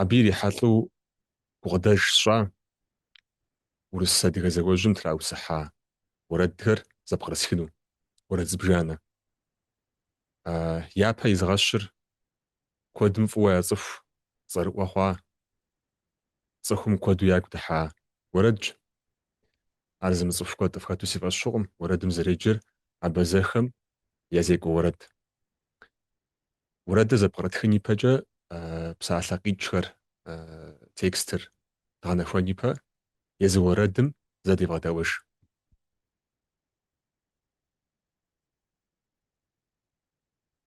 Абы ирихьэлӏэу гукъыдэж сщӏа урыс-адыгэ зауэжьым траусыхьа уэрэдхэр зэпкърысхыну, уэрэд зыбжанэ. Япэ изгъэщыр куэдым фӏыуэ яцӏыху цӏэрыӏуэ хъуа, цӏыхум куэду ягу дыхьа уэрэдщ. Ар зымыцӏыху куэд къыфхэту си фӏэщ хъукъым, уэрэдым зэреджэр абазэхэм я зекӏуэ уэрэд. Уэрэдыр зэпкърытхын ипэкӏэ псалъэ къикӏхэр, текстыр дгъэнэхуэн ипэ езы уэрэдым зэ девгъэдэӏуэж.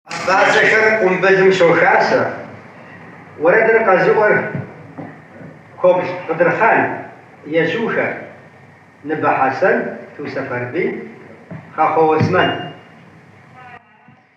Абазэхэр къумбылым щохасэ. Уэрэдыр къэзыӏуэр Кобл Къыдырхъан, ежьухэр Ныбэ Хьэсэн, Ту Сэфэрбий, Хьэхъу Уэсмэн.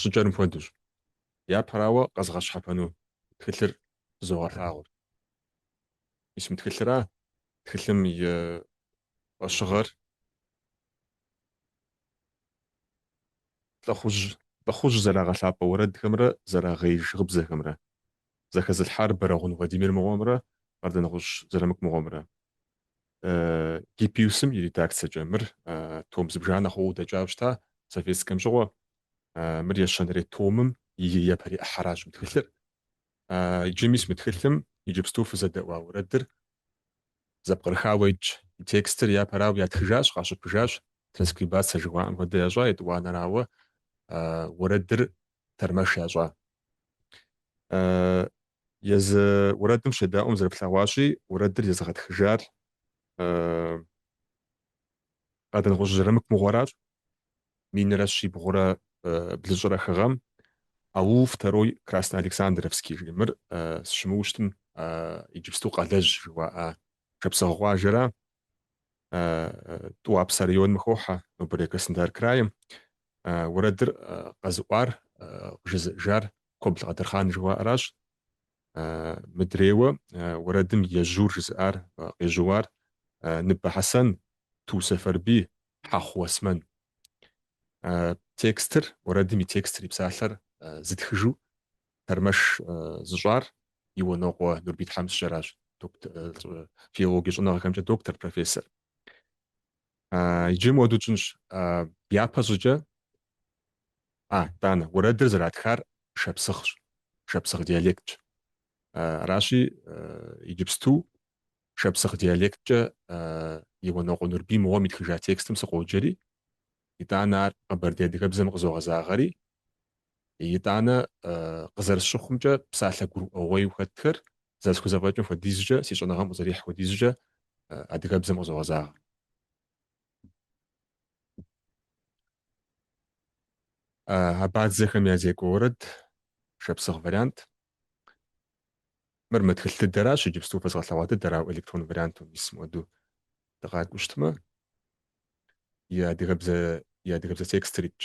щӏыкӏэрым хуэдэщ. Япэрауэ къэзгъэщхьэпэну тхылъыр фызогъэлъагъур. Мис мы тхылъыра тхылъым и фӏэщыгъэр лӏыхъужь лӏыхъужь зэрагъэлъапӏэ уэрэдхэмрэ зэрагъеиж гъыбзэхэмрэ, зэхэзылъхьар Бэрэгъун Владимир мыгъуэмрэ Къардэнгъущӏ Зырамыку мыгъуэмрэ. Гиппиусым и редакциекӏэ мыр том зыбжанэ хъууэ дэкӏауэ щыта советскэм щыгъуэ. Мыр ещанэрей томым и япэрей ӏыхьэращ мы тхылъыр. Иджы мис мы тхылъым иджыпсту фызэдэӏуа уэрэдыр зэпкърыхауэ итщ. И текстыр япэрауэ ятхыжащ, къащыпыжащ, транскрибация жыхуаӏэм хуэдэ ящӏа, етӏуанэрауэ уэрэдыр тэрмэш ящӏа. Езы уэрэдым щедаӏуэм зэрыфлъэгъуащи, уэрэдыр езыгъэтхыжар Къардэнгъущӏ Зырамыку мыгъуэращ, минрэ щибгъурэ блыщӏрэ хы гъэм, аул Второй Красноалександровский жи мыр сыщымыуэу щытым, иджыпсту Къалэжь жыуаӏэ шапсыгъ къуажэра, Тӏуапсэ районым хохьэ, нобэрей Краснодар краим. Уэрэдыр къэзыӏуар, къыжызыӏэжар Кобл Къадырхъан жыхуаӏэращ мыдрейуэ уэрэдым ежьур жызыӏар къежьууар, Ныбэ Хьэсэн, Ту Сэфэрбий, Хьэхъу Уэсмэн. Текстыр, уэрэдым и текстыр, и псалъэр зытхыжу тэрмэш зыщӏар Иуанокъуэ Нурбий тхьэмыщкӏэращ, филологие щӏэныгъэхэмкӏэ доктор, профессор. Иджы мыуэду тщӏынщ. Япэ щӏыкӏэ, а, тӏанэ, уэрэдыр зэратхар шапсыгъщ, шапсыгъ диалектщ. Аращи, иджыпсту шапсыгъ диалекткӏэ Иуанокъуэ Нурбий мыгъуэм итхыжа текстым сыкъоджэри, итӏанэ ар къэбэрдей адыгэбзэм къызогъэзагъэри, Итӏанэ, къызэрысщыхъумкӏэ, псалъэ гурыӏуэгъуейу хэтхэр, зэрысхузэфӏэкӏым хуэдизкӏэ, си щӏэныгъэм къызэрихь хуэдизкӏэ, адыгэбзэм къызогъэзагъэ. Абадзэхэм я зекӏуэ уэрэд, шапсыгъ вариант. Мыр мы тхылъ дыдэращ, иджыпсту фэзгъэлъэгъуа дыдэр, ауэ электрон варианту мис мыуэду дыкъакӏуэу щытмэ, и адыгэбзэ, и адыгэбзэ текстыр итщ.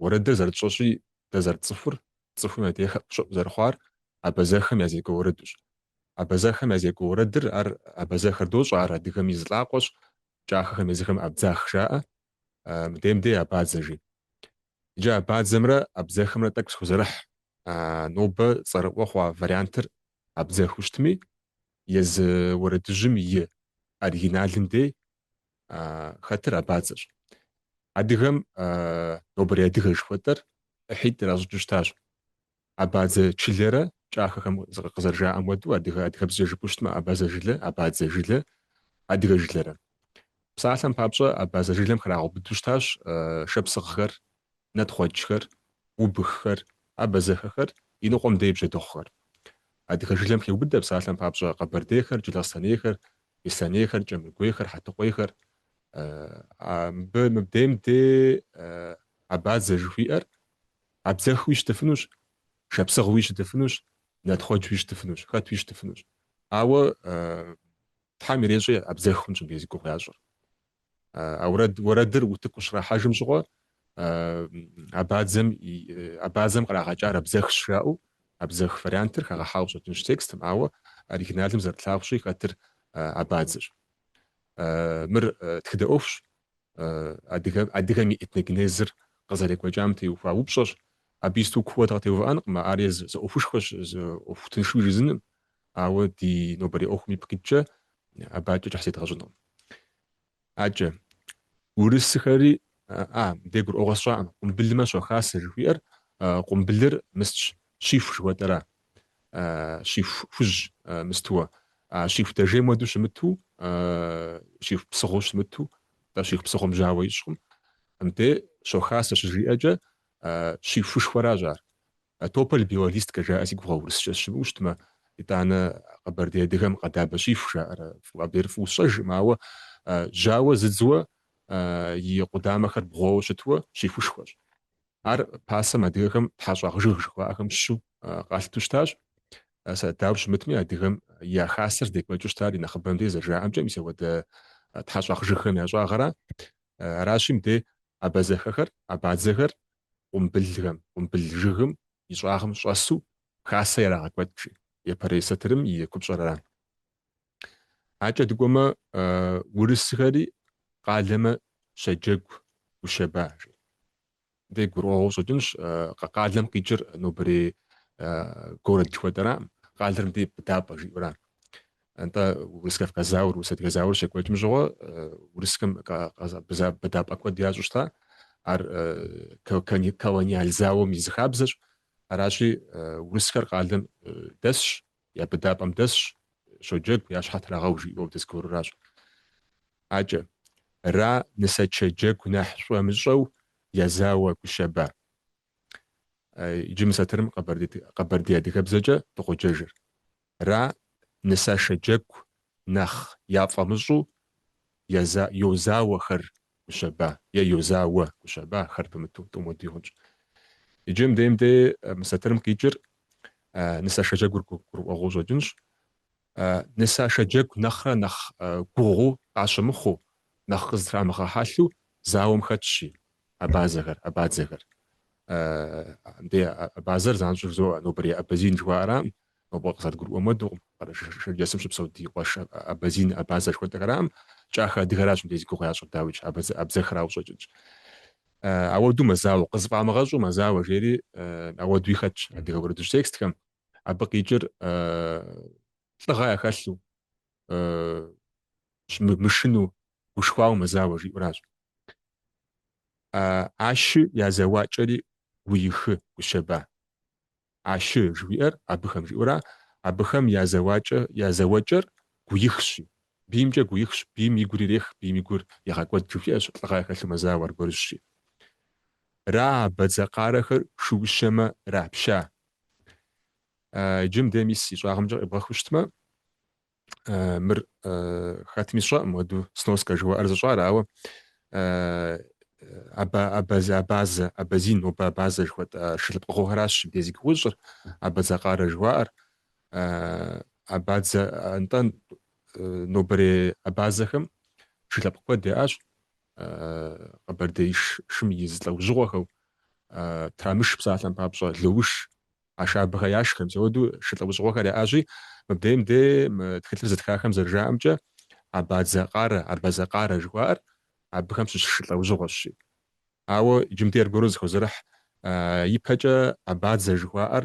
Уэрэдыр зэрытщӏэщи, дэ зэрытцӏыхур, цӏыхум я дей хэӏущӏыӏу зэрыхъуар абазэхэм я зекӏуэ уэрэдущ. Абазэхэм я зекӏуэ уэрэдыр, ар абазэхэр дощӏэ, ар адыгэм и зы лӏакъуэщ, кӏахэхэм езыхэм абдзах жаӏэ, мыдейм дей абадзэ жи. Иджы абадзэмрэ абдзэхэмрэ тӏэкӏу схузэрыхь. Нобэ цӏэрыӏуэ хъуа вариантыр абдзэхыу щытми, езы уэрэдыжьым и оригиналым дей хэтыр абадзэщ. Адыгэм нобэрей адыгэ жыхуэтӏэр ӏыхьитӏ иращӏыкӏыу щытащ. Абадзэ чылэрэ кӏахэхэм къызэрыжаӏэм хуэдэу адыгэ адыгэбзэкӏэ жыпӏэу щытмэ абазэ жылэ, абадзэ жылэ, адыгэ жылэрэ. Псалъэм папщӏэ абазэ жылэм храгъэубыдэу щытащ шапсыгъхэр, нэтхъуэджхэр, убыххэр, абазэхэхэр, иныкъуэм дей бжьэдыгъухэр. Адыгэ жылэм хеубыдэ псалъэм папщӏэ къэбэрдейхэр, джылахъстэнейхэр, беслъэнейхэр, кӏэмыргуейхэр, хьэтыкъуейхэр. Мыбы мыбдейм де абадзэ жыхуиӏэр абдзэхуи щытыфынущ, шапсыгъуи щытыфынущ, нэтхъуэджуи щытыфынущ, хэтуи щытыфынущ. Ауэ Тхьэм ирещӏи абдзэх хъунщ мыбдей зи гугъу ящӏыр. Ауэ уэрэдыр утыку щрахьэжым щыгъуэ абадзэм абадзэм кърагъэкӏар абзэхщ жаӏэу абзэх вариантыр хагъэхьауэ къыщӏэкӏынщ текстым, ауэ оригиналым зэрытлъагъущи хэтыр абадзэщ. Мыр тхыдэ ӏуэхущ, адыгэ адыгэм и этногенезыр къызэрекӏуэкӏам теухуа упщӏэщ. Абы исту куууэ дыкъытеувыӏэнкъым, ар езы зы ӏуэхушхуэщ, зы ӏуэху тыншу жызыным, Ауэ ди нобэрей ӏуэхум ипкъ иткӏэ абыкӏэ кӏыхь зедгъэщӏынкъым. Акӏэ, урысыхэри, а, мыдей гурыӏуэгъуэ сщӏакъым, къумбылымэ щохасэ жыхуиӏэр, къумбылыр мыстщ, щиху жыхуэтӏэра, щиху хужь мыстуэ, а щиху дэжейм хуэдэу щымыту, щиху псыгъуэу щымыту, тӏэ щиху псыгъуэм жьауэ ищӏкъым, мыбдей щохасэ щыжиӏэкӏэ щихушхуэращ ар. А тополь белолистка жаӏэ си гугъэ урысчэ сыщымыуэу щытмэ, итӏанэ къэбэрдей адыгэм къэдабэ щиху жаӏэрэ, абдейр фӏыуэ сщӏэжкъым, ауэ жьауэ зыдзуэ и къудамэхэр бгъуэуэ щытуэ щихушхуэщ. Ар пасэм адыгэхэм тхьэщӏагъжыг жыхуаӏэхэм щыщу къалъыту щытащ. Сэ дауэ щымытми, адыгэм я хасэр здекӏуэкӏыу щытар и нэхъыбэмкӏэ зэрыжаӏэмкӏэ мис апхуэдэ тхьэщӏагъжыгхэм я щӏагъыра. Аращи, мыбдей абазэхэхэр, абадзэхэр къумбылхэм, къумбыл жыгым и щӏагъым щӏэсу Хасэ ярагъэкӏуэкӏ жи, Епэрей сатырым и купщӏэр ара. Акӏэ дыкӏуэмэ, урысхэри къалэмэ щэджэгу Гущэба жи. Дэ гурыӏуэгъуэу щӏэкӏынщ, къалэм къикӏыр нобэрей город жыхуэтӏэраӏым, къалэр мыбдей Быдапӏэ жиӏэура. Нтӏэ Урыс-Кавказ зауэр, Урыс-Адыгэ зауэр щекӏуэкӏым щыгъуэ Урысхэм быдапӏэ куэд ящӏу щыта. Ар колониал зауэм и зы хабзэщ. Аращи, Урысхэр къалэм дэсщ, я быдапӏэм дэсщ, щоджэгу, я щхьэ трагъэу жиӏэу дызгуэруращ. Акӏэ, ра нысэ-чэджэгу нэхь щӏэмыщӏэу я зауэ Гущэба. Иджы мы сатырым къэбэрдей адыгэбзэкӏэ дыкъоджэжыр. Ра нысэшэ джэгу нэхъ яфӏэмыщӏу Йозауэхэр гущэба е Йозауэ гущэба, хэр пымыту тӏум уэдуи хъунщ. Иджы мыдейм дей мы сатырым къикӏыр нысэшэ джэгур гурыӏуэгъуэу щӏэкӏынщ. Нысашэ джэгу нэхърэ нэхъ гугъуу къащымыхъуу, нэхъ къызытрамыгъэхьэлъу зауэм хэтщи, абазэхэр, абадзэхэр. Мыбдей абазэр занщӏэу жызоӏэ, нобэрей абазин жыхуаӏэракъым, нобэ къызэрыдгурыӏуэм хуэдэукъым, Къэрэшей-Шэрджэсым щыпсэу ди къуэш абазин, абазэ жыхуэтӏэхэракъым, кӏахэ адыгэращ мыбдей зи гугъу ящӏыр, дауикӏ, абзэххэрауэ щӏэкӏынщ. Ауэду мэзауэ, къызыфӏамыгъэщӏу мэзауэ жери ауэдуи хэтщ адыгэ уэрэдыжь текстхэм. Абы къикӏыр лӏыгъэ яхэлъу, мышыну, гушхуауэ мэзауэ жиӏуращ. Ащы я зэуакӏэри гуихы Гущэба. Ащы жыхуиӏэр абыхэм жиӏура, абыхэм я зэуакӏэ, я зэуэкӏэр гуихщи. Биймкӏэ гуихщ, бийм и гур ирех, бийм и гур егъэкӏуэд жыхуиӏэщ, лӏыгъэ яхэлъу мэзауэ аргуэрыжьщи. Ра абадзэ къарэхэр шыущэмэ рапща, Иджым де мис и щӏагъымкӏэ къебгъэхыу щытмэ, мыр хэтми сщӏэӏым, уэду сноскэ жыхуаӏэр зыщӏар, ауэ абазэ, абазэ, абазин, нобэ абазэ жыхуэтӏэ шы лъэпкъыгъуэхэращ де зи гугъу ищӏыр, абазэ къарэ жыхуаӏэр, абадзэ, нтӏэ, нобэрей абазэхэм шылъэпкъ куэд яӏащ, Къэбэрдей шым и зы лӏэужьыгъуэхэу Трамыш псалъэм папщӏэ Лоуш Ашабэхэ яшхэ, мис ауэду шы лӏэужьыгъуэхэр яӏэщи, мыбдеем де мы тхылъыр зытхахэм зэрыжаӏэмкӏэ Абадзэ Къарэ, Абазэ Къарэ жыхуаӏэр абыхэм щыщ шы лӏэужьыгъуэщи. Ауэ иджым де аргуэру зэхозэрыхь ипэкӏэ Абадзэ жыхуаӏэр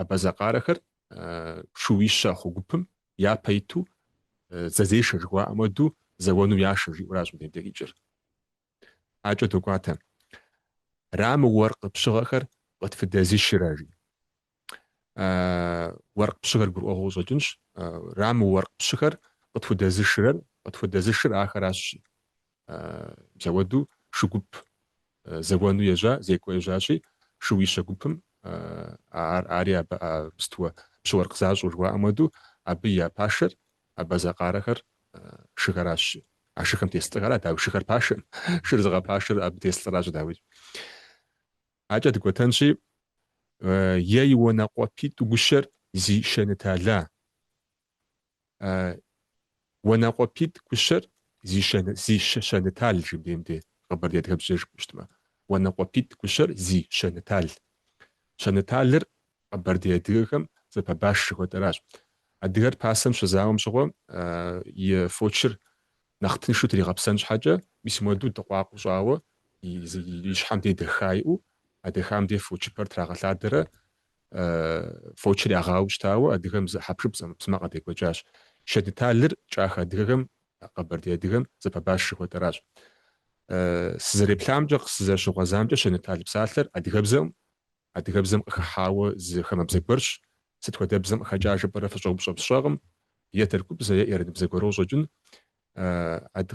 абазэ къарэхэр шууищэ хъу гупым япэ иту зэзешэ жыхуаӏэм уэду зэуэну яшэ жиӏуращ мыдейм де къикӏыр. Адэкӏэ докӏуатэ. Рамы уэркъ пщыгъэхэр къытфыдэзышрэ жи. Уэркъ пщыгъэр гурыӏуэгъуэ къыщӏэкӏынщ. Рамы уэркъ пщыхэр къытхудэзышрэр, къытхудэзышыр ахэращ жи. Зэуэду шы гуп зэуэну ежьа, зекӏуэ ежьащи, шууищэ гупым ар, ари абы сытуэ пщыуэркъ защӏу жыхуаӏэм уэду, абы я пашэр, абазэ къарэхэр шыхэращ. А шыхэм тес лӏыхэра, дауи шыхэр пашэм, шыр зыгъэпашэр абы тес лӏыращ, дауи. Адэкӏэ дыкӏуэтэнщи, ей уанэкъуэпитӏу гущэр зи шэнытала, Уанэкъуэпитӏ гущэр зи щэнытал жи мыдейм де къэбэрдей адыгэбзэ жыпӏу щытмэ. Уанэкъуэпитӏ гущэр зи щэнытал. Щэныталыр къэбэрдей адыгэхэм зэпэбаш жыхуэтӏэращ. Адыгэр пасэм щызауэм щыгъуэ и фочыр нэхъ тыншу тригъэпсэн щхьэкӏэ, мис муэду дыкъуакъу щӏауэ и щхьэм де дэха иӏэу, а дэхам де фочыпэр трагъэлъадэрэ Фочыр ягъауэу щытауэ адыгэм зы хьэпшып зы ӏэмэпсымэ къадекӏуэкӏащ. Шэныталыр кӏах адыгэхэм, къэбэрдей адыгэм, зэпэбаш жыхуэтӏэращ. Сызэреплъамкӏэ, къысызэрыщыгъуэзамкӏэ, шэнытал псалъэр адыгэбзэм, адыгэбзэм къыхыхьауэ зы хамэбзэ гуэрщ. Сыт хуэдэ бзэм къыхэкӏа жыпӏэрэ фыщӏэупщӏэм сщӏэкъым, е тыркубзэ, е ираныбзэ гуэру къыщӏэкӏын.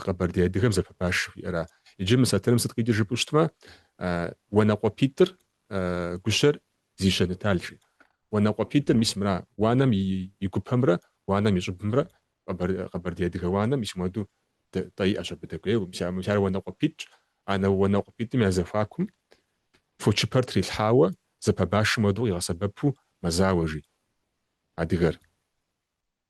Къэбэрдей адыгэм зэпэбаш жыхуиӏэра. Иджы мы сатырым сыт къикӏыр жыпӏэу щытмэ, Уанэкъуэпитӏыр гущэр зи щэнытал жи. Уанэкъуэпитӏыр мис мыра, уанэм и гупэмрэ уанэм и щӏыбымрэ, Къэбэрдей адыгэ уанэм мис муэду тӏэ иӏэщ абы дэкӏуейуэ. Мис ар Уанэкъуэпитӏщ. Анэ Уанэкъуэпитӏым я зэхуакум фочыпэр трилъхьауэ, зэпэбашым хуэдэу къигъэсэбэпу мэзауэ жи адыгэр.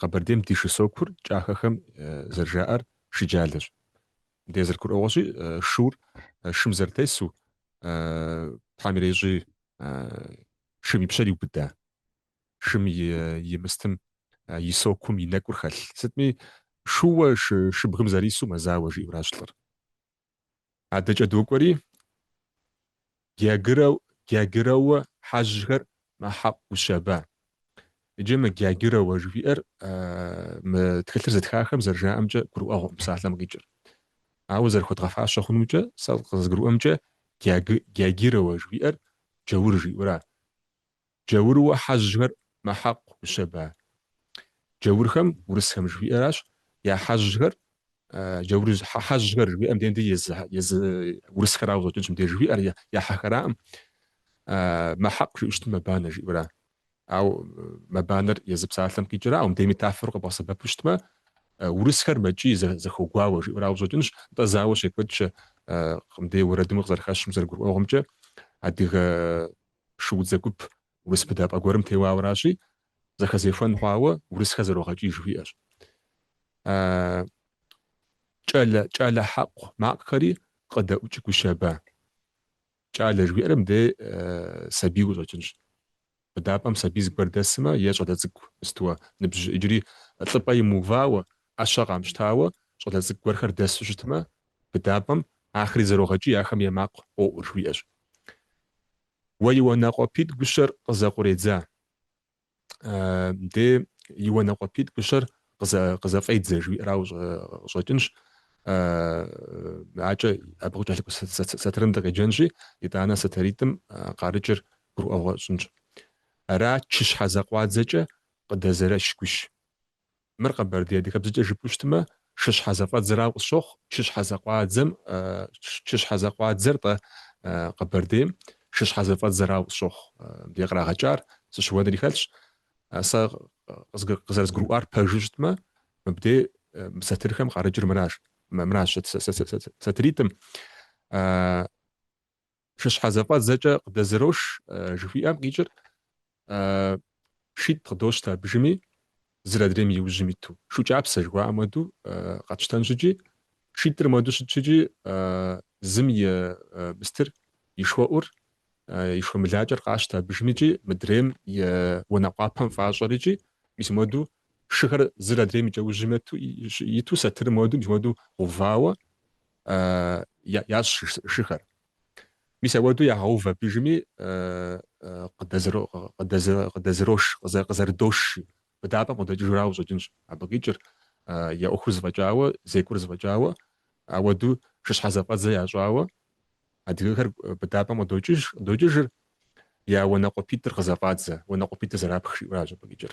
Къэбэрдейм ди шы сокур кӏахэхэм зэрыжаӏэр шыджалэщ. Мыдей зэрыгурыӏуэгъуэщи, шур шым зэрытесу Тхьэм ирещӏи шым и пщэр иубыда, шым и мыстым и сокум и нэкӏур хэлъ. Сытми шууэ шыбгым зэрису мэзауэ жиӏэуращ лӏыр. Адэкӏэ докӏуэри, Гягырэу, Гягырэуэ хьэжьхэр мэхьакъу гущэба. Иджы мы Гягырэуэ жыхуиӏэр мы тхылъыр зытхахэм зэрыжаӏэмкӏэ гурыӏуэгъуэкъым псалъэм къикӏыр. Ауэ зэрыхуэдгъэфащэ хъунумкӏэ, сэ къызгурыӏуэмкӏэ Гягырэуэ жыхуиӏэр Джаур жиӏэура. Джаурыуэ хьэжьхэр мэхьэкъу гущэба? Джаурхэм, урысхэм жыхуиӏэращ, я хьэжьхэр, джаур хьэжьхэр жыхуиӏэм дей езы, езы урысхэрауэ щӏэкӏынщ мыбдеж жыхуиӏэр я, я хьэхэраӏым. Мэхьэкъу жиӏу щытмэ мэбанэ жиӏэура? Ау мэбанэр езы псалъэм къикӏыра? Ау мыдей метафор къэбгъэсэбэпу щытмэ, урысхэр мэкӏий зэ, зэхуэгуауэ жиӏэрауэ щӏэкӏынщ, нтӏэ зауэ щекӏуэкӏ мыдей уэрэдым къызэрыхэщым зэрыгурыӏуэгъуэмкӏэ адыгэ Шуудзэ гуп урыс быдапӏэ гуэрым теуауэращи, зэхэзехуэн хъуауэ урысхэр зэрогъэкӏий жыхуиӏэщ. Кӏэлэ, кӏэлэ хьэкъу макъхэри къыдэӏукӏ гущэба. Кӏалэ жыхуиӏэр мыбдей сабийуэ щӏэкӏынщ. Быдапӏэм сабий зыгуэр дэсымэ е щӏалэ цӏыкӏу мыстуэ ныбжь иджыри лӏыпӏэ имыувауэ, ӏэщэ къамщтауэ щӏалэ цӏыкӏу гуэрхэр дэсу щытмэ, быдапӏэм, ахэри зэрогъэкӏий, ахэм я макъ къоӏур, жыхуиӏэщ. Уэ и уанэкъуэпитӏ гущэр къызэкъуредза? Де и уанэкъуэпитӏ гущэр къызэфӏедзэ, жиӏэрау къыщӏэкӏынщ. Акӏэ абы къыкӏэлъыкӏуэ сатырым дыкъеджэнщи, итӏанэ сатыритӏым къарыкӏыр гурыӏуэгъуэ тщӏынщ. Ара чыщхьэ зэкъуадзэкӏэ къыдэзэрэщ гущ. Мыр къэбэрдей адыгэбзэкӏэ жыпӏэу щытмэ, шыщхьэзэфӏэдзэрау къысщохъу, чыщхьэзэкъуадзэм, чыщхьэзэкъуадзэр-тӏэ къэбэрдейм, шыщхьэзэфӏэдзэрау къысщохъу. Мыбдеж кърагъэкӏар сыщыуэнри хэлъщ. Сэ къызэрызгурыӏуар пэжу щытмэ, мыбдеж мы сатырхэм къарыкӏыр мыращ, мыращ сатыритӏым. Шыщхьэ зэфӏэдзэкӏэ къыдэзырош жыхуиӏэм къикӏыр шитӏ къыдощтэ абы ужьыми, зыр адрейм и ужьым иту. Шу кӏапсэ жыхуаӏэм хуэдэу къэтщтэнщ икӏи, шитӏыр мыуэду щытщ икӏи, зым и мыстыр, и шхуэӏур, и шхуэмылакӏэр къащтэ абы ужьым икӏи, мыдрейм и уанэ къуапэм фӏащӏэр икӏи, мис мыуэду шыхэр зыр адрейм и кӏэужьым иту, сатыр мыуэду, мис мыуэду гъэувауэ, ящӏ шыхэр. Мис ауэду ягъэув абы ужьыми, къыдэзырош, къызэрыдош жи. Быдапӏэм къыдокӏыжырауэ щӏэкӏынщ абы къикӏыр, я ӏуэхур зэфӏэкӏауэ, зекӏур зэфӏэкӏауэ, ауэду шыщхьэ зэфӏэдзэ ящӏауэ адыгэхэр быдапӏэм къыдокӏыжыр, я уанэкъуэпитӏыр къызэфӏадзэ, уанэкъуэпитӏыр зэрапх жиӏэращ абы къикӏыр.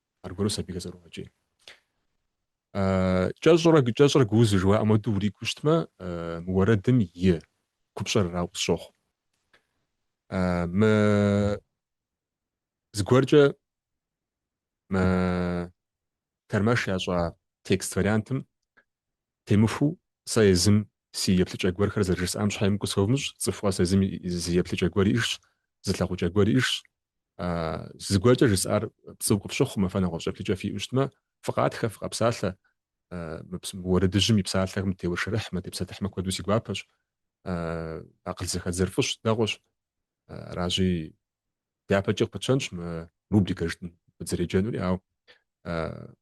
Аргуэру сабийхэр зэрогъэкӏий. Кӏэщӏрэ кӏэщӏрэ гузы жыуаӏэм уэду уригу щытмэ, мы уэрэдым и купщӏэр арауэ къысщохъу. Мы зыгуэркӏэ мы тэрмэш ящӏа текст вариантым темыхуэу сэ езым си еплъыкӏэ гуэрхэр зэрыжысӏам щхьэ емыкӏу сывмыщӏ, цӏыху къэс езым зы еплъыкӏэ гуэр иӏэжщ, зы лъагъукӏэ гуэр иӏэжщ, зыгуэркӏэ жысӏар пцӏыу къыпщыхъумэ, фэ нэгъуэщӏ еплъыкӏэ фиӏэу щытмэ, фыкъатхэ, фыкъэпсалъэ, уэрэдыжьым и псалъэхэм теуэршэрыхьмэ, тепсэлъыхьмэ куэду си гуапэщ, акъыл зэхэдзэр фӏыщ, дэгъуэщ, аращи, дяпэкӏэ къыпытщэнщ мы рубрикэ жытӏэм дызэреджэнури, ауэ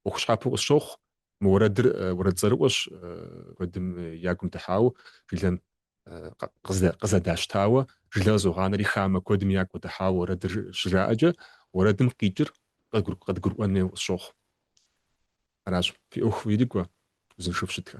ӏуэху щхьэпэу къысщохъу, мы уэрэдыр уэрэд цӏэрыӏуэщ, куэдым я гум дыхьауэ жылэм къызэдащтауэ жылэр къызогъанэри хамэ куэдым ягу къыдыхьауэ уэрэдыр щыжаӏэкӏэ, уэрэдым къикӏыр къыдгурыӏуэн хуей къысщохъу. Аращ, фи ӏуэху ирикӏуэ, узыншэу фыщытхэ.